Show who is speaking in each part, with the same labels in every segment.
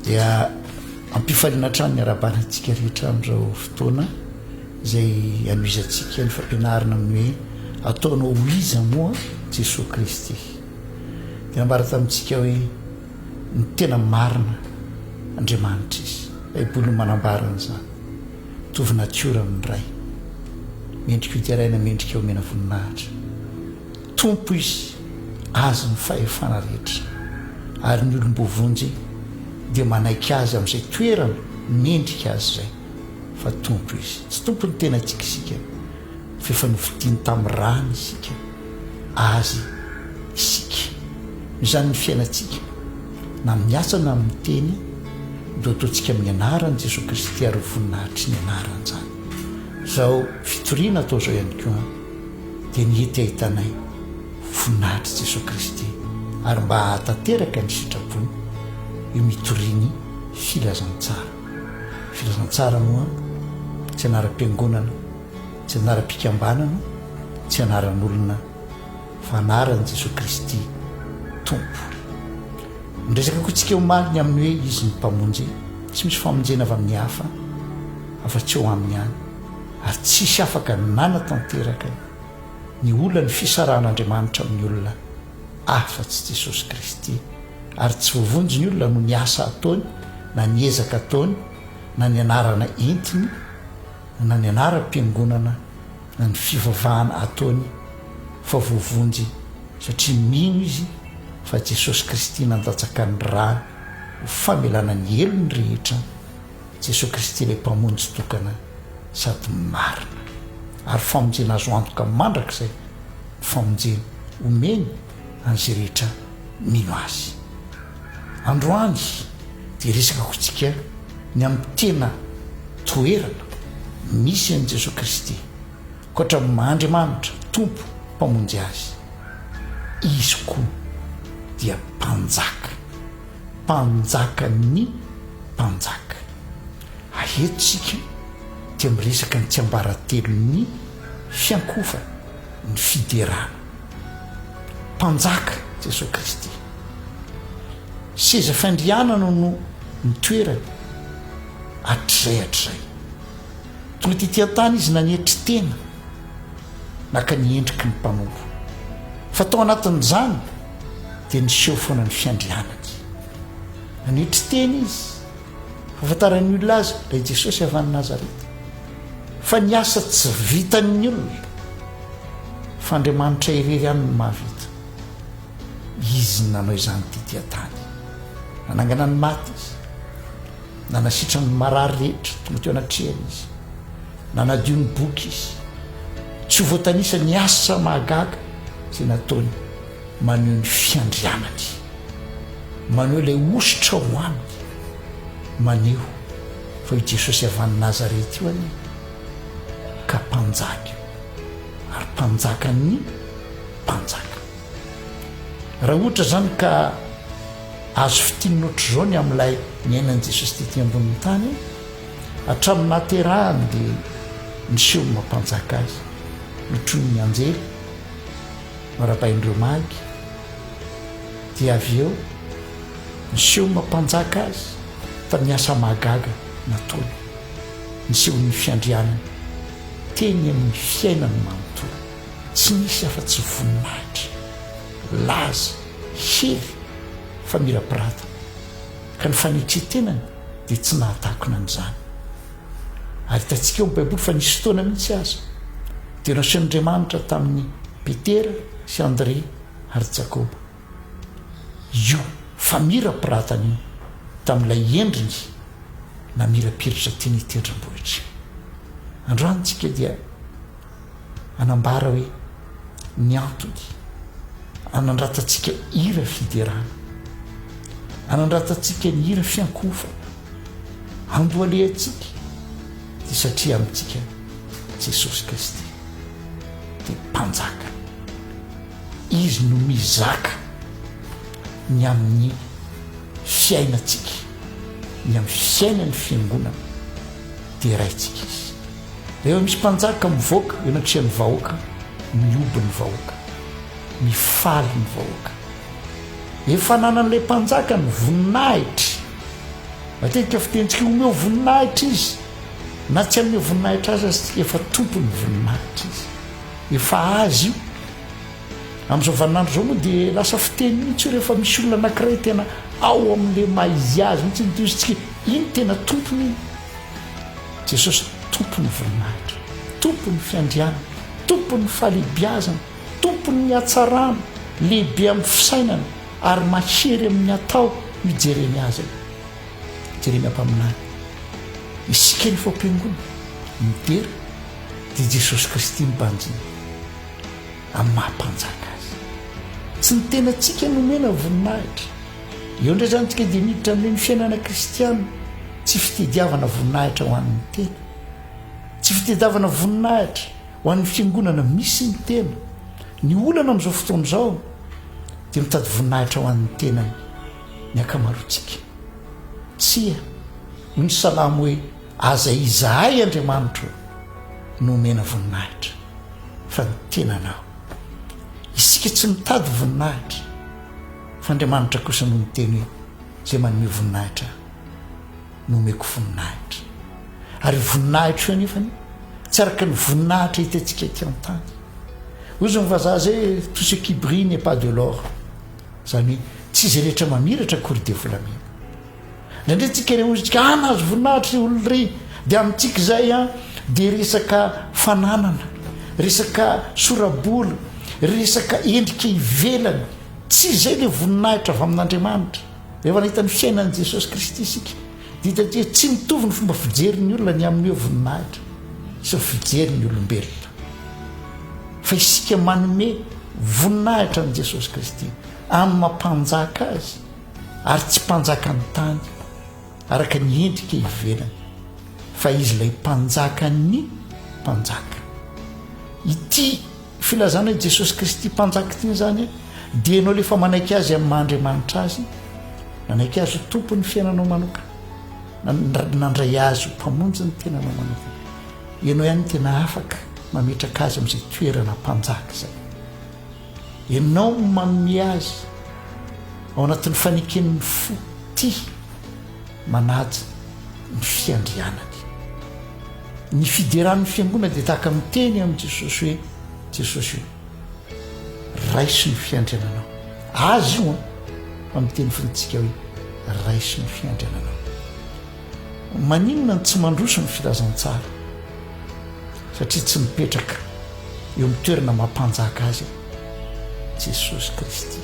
Speaker 1: Dia ampifaliana hatrany ny arabana antsika rehetra amin'izao fotoana izay anohizantsika ny fampianarana amin'ny hoe ataonao ho iza moa Jesoa Kristy. Dia nambara tamintsika hoe ny tena marina Andriamanitra izy. Baiboly no manambara an'izany. Mitovy natiora amin'ny Ray. Mendrika hoteraina, mendrika homena voninahitra. Tompo izy, azy ny fahefana rehetra, ary ny olom-boavonjy dia manaiky azy amin'izay toerana mendrika azy izay, fa Tompo izy. Tsy tompon'ny tenantsika isika, fa efa novidiany tamin'ny rany isika, azy isika. Noho izany ny fiainantsika, na amin'ny asa na amin'ny teny, dia hoataontsika amin'ny anaran'i Jesoa Kristy ary ho voninahitriny anaran'izany izao fitoriana atao izao ihany koa. dia ny hety hahitanay voninahitr'i Jesoa Kristy ary mba hahatanteraka ny sitrapony eo mitoriany filazantsara. Filazantsara moa tsy anaram-piangonana, tsy anaram-pikambanana, tsy anaran'olona fa anaran'i Jesoa Kristy Tompo. Niresaka koa tsika omaly ny amin'ny hoe Izy ny Mpamonjy, tsy misy famonjena avy amin'ny hafa afa-tsy eo aminy ihany. ary tsisy afaka nanatanteraka ny olan'ny fisarahan'Andriamanitra amin'ny olona afa-tsy Jesosy Kristy, ary tsy voavonjy ny olona noho ny asa ataony na ny ezaka ataony na ny anarana entiny na ny anaram-piangonana na ny fivavahana ataony fa voavonjy satria mino izy fa Jesosy Kristy nandatsaka ny rany ho famelana ny helony rehetra Jesoa Kristy ilay Mpamonjy tokana sady marina ary famonjena azo antoka mandrakizay ny famonjena omeny an'izay rehetra mino Azy. Androany dia resaka kointsika ny amin'ny tena toerana misy an'i Jesoa Kristy, ankoatra ny maha Andriamanitra, Tompo, Mpamonjy azy, Izy koa dia Mpanjaka. Mpanjakan'ny mpanjaka. Eto isika dia miresaka ny tsiambaratelon'ny fiankohofana, ny fiderana. Mpanjaka Jesoa Kristy. Seza fandrianana no nitoerany hatrizay hatrizay. Tonga tety an-tany Izy nanetry tena, naka ny endriky ny mpanompo. Fa tao anatin'izany dia niseho foana ny fiandrianany. Nanetry tena izy, hafantaran'ny olona azy raha i Jesosy avy any Nazareta. Fa ny asa tsy vitan'ny olona, fa Andriamanitra irery ihany no mahavita. Izy no nanao izany tety an-tany. Nanangana ny maty izy. Nanasitrana ny marary rehetra tonga teo anatrehany izy. Nanadio ny boky izy. Tsy ho voatanisa ny asa mahagaga izay nataony. Maneho ny fiandrianany. Maneho ilay hosotra ho aminy. Maneho fa io Jesosy avy any Nazareth io anie ka Mpanjaka io ary Mpanjakan'ny mpanjaka. Raha ohatra izany ka azo fintinina ohatr'izao ny amin'ilay niainan'i Jesosy tety ambonin'ny tany, hatramin'ny nahaterahany dia niseho ny maha Mpanjaka Azy, notronon'ny anjely, Norabain'ireo Magy, dia avy eo niseho mpanjaka azy tamin'ny asa mahagaga nataony, nisehoan'ny fiandrianany teny amin'ny fiainany manontolo. Tsy nisy afa-tsy voninahitra, laza, hery, famirapiratana, ka ny fanetren-tenany dia tsy nahatakona an'izany. Ary hitantsika ao amin'ny Baiboly fa nisy fotoana mihitsy aza dia nasehon'Andriamanitra tamin'i Petera sy Andrea ary Jakoba io famirapiratana io tamin'ilay endriny namirapiratra tiany hitendrem-bohitra io. Androany isika dia Anambara hoe ny antony anandratantsika hira fiderana, anandratantsika ny hira fiankohofana, andohalehantsika dia satria amintsika Jesosy Kristy dia mpanjaka. Izy no mizaka ny amin'ny fiainantsika, ny amin'ny fiainan'ny fiangonana. deraintsika izy. Rehefa misy mpanjaka mivoaka eo anatrehan'ny vahoaka, mihoby ny vahoaka, mifaly ny vahoaka. Efa ananan'ilay mpanjaka ny voninahitry. Matetika fitentsika omeo voninahitra izy, na tsy hanome voninahitra azy aza efa tompon'ny voninahitra izy. Efa azy io. Amin'izao vaninandro izao moa dia lasa fiteny mihitsy io rehefa misy olona anankiray tena ao amin'ilay maha izy azy mihitsy ny toy izy tsy Iny tena tompony iny. Jesosy tompon'ny voninahitra, tompon'ny fiandrianana, tompon'ny fahalehibiazana, tompon'ny hatsarana, lehibe amin'ny fisainana ary mahery amin'ny atao io Jeremia azy io. Jeremia mpaminany. Isika ny faopiangona, midera, dia Jesosy Kristy ny banjiny. amin'ny maha-mpanjaka azy. Tsy ny tenantsika no omena voninahitra. Eo indray izany isika dia miditra amin'io ny fiainana kristiana, tsy fitediavana voninahitra ho an'ny tena. Tsy fitedavana voninahitra ho an'ny fiangonana misy ny tena. Ny olana amin'izao fotoana izao dia mitady voninahitra ho an'ny tenany ny ankamaroantsika. Tsia, hoy ny salamo hoe. Aza izahay Andriamanitro o, no omena voninahitra, fa ny tenanao. Isika tsy mitady voninahitra, fa Andriamanitra kosa no niteny hoe, Izay manome voninahitra ahy, nomeko voninahitra. Ary io voninahitra io anefany tsy araka ny voninahitra hitantsika ety an-tany. Hozy ny vazaha izay hoe, Tout ce qui brille n'est pas de l'or. Izany hoe, tsy izay rehetra mamiratra akory dia volamena. Indraindray antsika re hozy tsika ah nahazo voninahitra ry olona ry de amintsika izay a de resaka fananana resaka sorabola resaka endrika ivelany tsy izay le voninahitra avy amin'Andriamanitra rehefa nahita ny fiainan'i Jesosy Kristy isika de hitantsika hoe tsy mitovy ny fomba fijerin'ny olona ny amin'ny hoe voninahitra sy ny fijerin'ny olombelona fa isika manome voninahitra an'i Jesosy Kristy amin'ny mampanjaka azy ary tsy mpanjakan'ny tany araka ny endrika ivelany fa izy ilay mpanjakan'ny mpanjaka. Ity filazana i Jesosy Kristy mpanjaka ity izany dia ianao lefa manaiky azy amin'ny maha Andriamanitra azy, nanaiky azy ho tompon'ny fiainanao manokana, nandray azy ho mpamonjy ny tenanao manokana. Ianao ihany tena afaka mametraka azy amin'izay toerana mpanjaka izay. Ianao no manome azy ao anatin'ny faneken'ny fo tia manaja ny fiandrianany. Ny fideran'ny fiangonana dia tahaka miteny amin'i Jesosy hoe, Jesosy o, raiso ny fiandriananao. Azy io an, fa miteny fotsiny tsika hoe, raiso ny fiandriananao. Maninona no tsy mandroso ny filazantsara? Satria tsy mipetraka eo amin'ny toerana maha mpanjaka azy Jesosy Kristy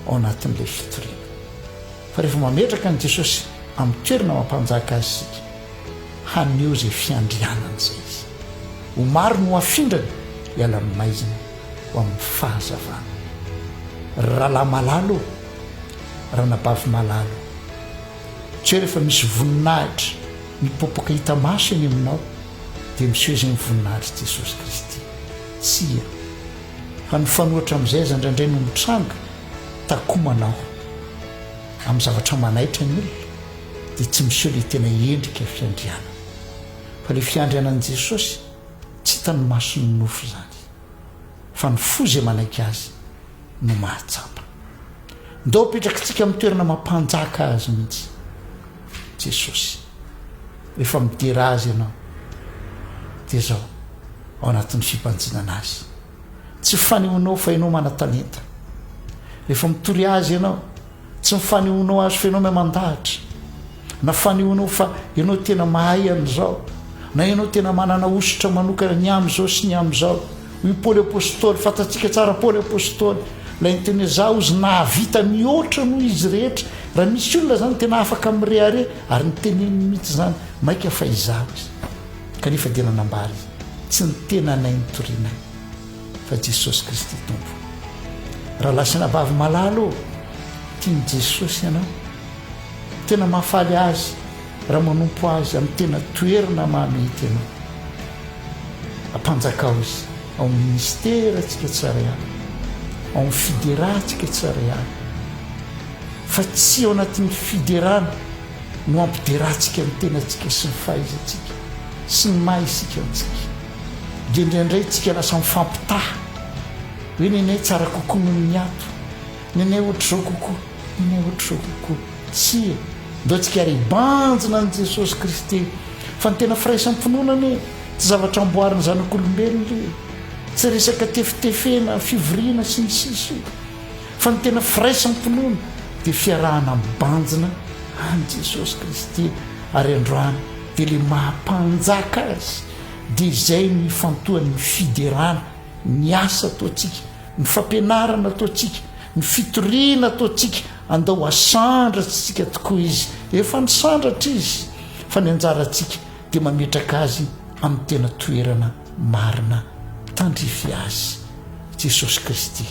Speaker 1: ao anatin'ilay fitoriana. Fa rehefa mametraka an'i Jesosy amin'ny toerana maha mpanjaka azy isika, haneho izay fiandrianany izay izy. Ho maro ny ho afindrany hiala amin'ny maizina ho amin'ny fahazavana. Ry rahalahy malalo ô! Ry anabavy malalo! Tsy rehefa misy voninahitra mipoapoaka hita maso eny aminao dia miseho izay ny voninahitr'i Jesosy Kristy. Tsia. Fa nifanohitra amin'izay aza indraindray no mitranga, takomanao. Amin'ny zavatra manaitra ny olona dia tsy miseho ilay tena endrika fiandrianana. Fa ilay fiandrianan'i Jesosy tsy hitan'ny mason'ny nofo izany. fa ny fo izay manaiky azy no mahatsapa. Ndao apetrakitsika amin'ny toerana mampanjaka azy mihitsy Jesosy. Rehefa midera azy ianao dia zao ao anatin'ny fibanjinana azy. Tsy fanehoanao fa ianao mana-talenta. Rehefa mitory azy ianao Tsy ny fanehoanao azy fa ianao mahay mandahatra, na fanehoanao fa ianao tena mahay an'izao, na ianao tena manana hosotra manokana ny amin'izao sy ny amin'izao. Hoy Paoly Apostoly, fantatsika tsara Paoly Apostoly, ilay niteny hoe za ozy nahavita mihoatra noho izy rehetra. Raha misy olona zany tena afaka mirehareha, ary niteneniny mihitsy izany, maika fa izaho izy. Kanefa dia nanambara izy, tsy ny tenanay no torianay. fa Jesosy Kristy Tompo. Rahalahy sy rahavavy malala ô, tian'i Jesosy ianao. Tena mahafaly azy raha manompo azy amin'ny tena toerana mahamety anao. Ampanjakao izy ao amin'ny ministerantsika tsara ihany, ao amin'ny fiderantsika tsara ihany. Fa tsy ao anatin'ny fiderana no ampiderantsika ny tenantsika sy ny fahaizantsika sy ny maha isika antsika. Dia indraindray tsika lasa mifampitaha hoe nenay tsara kokoa noho ny ato, nenay ohatr'izao kokoa, nenay ohatr'izao kokoa. Tsia, ndao tsika ary hibanjina an'i Jesosy Kristy fa ny tena firaisam-pinoana anie tsy zavatra amboarin'ny zanak'olombelona io, tsy resaka tefitefena, fivoriana sy ny sisa io, fa ny tena firaisam-pinoana dia fiarahana mibanjina an'i Jesosy Kristy ary androany dia ilay maha Mpanjaka azy. dia izay no ifantohan'ny fiderana, ny asa ataontsika, ny fampianarana ataontsika, ny fitoriana ataontsika, andao hasandratsy tsika tokoa izy, efa nisandratra izy, fa ny anjarantsika dia mametraka azy amin'ny tena toerana marina, tandrify azy, Jesosy Kristy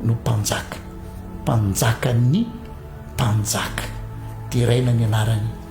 Speaker 1: no Mpanjaka, Mpanjakan'ny mpanjaka, deraina ny anarany.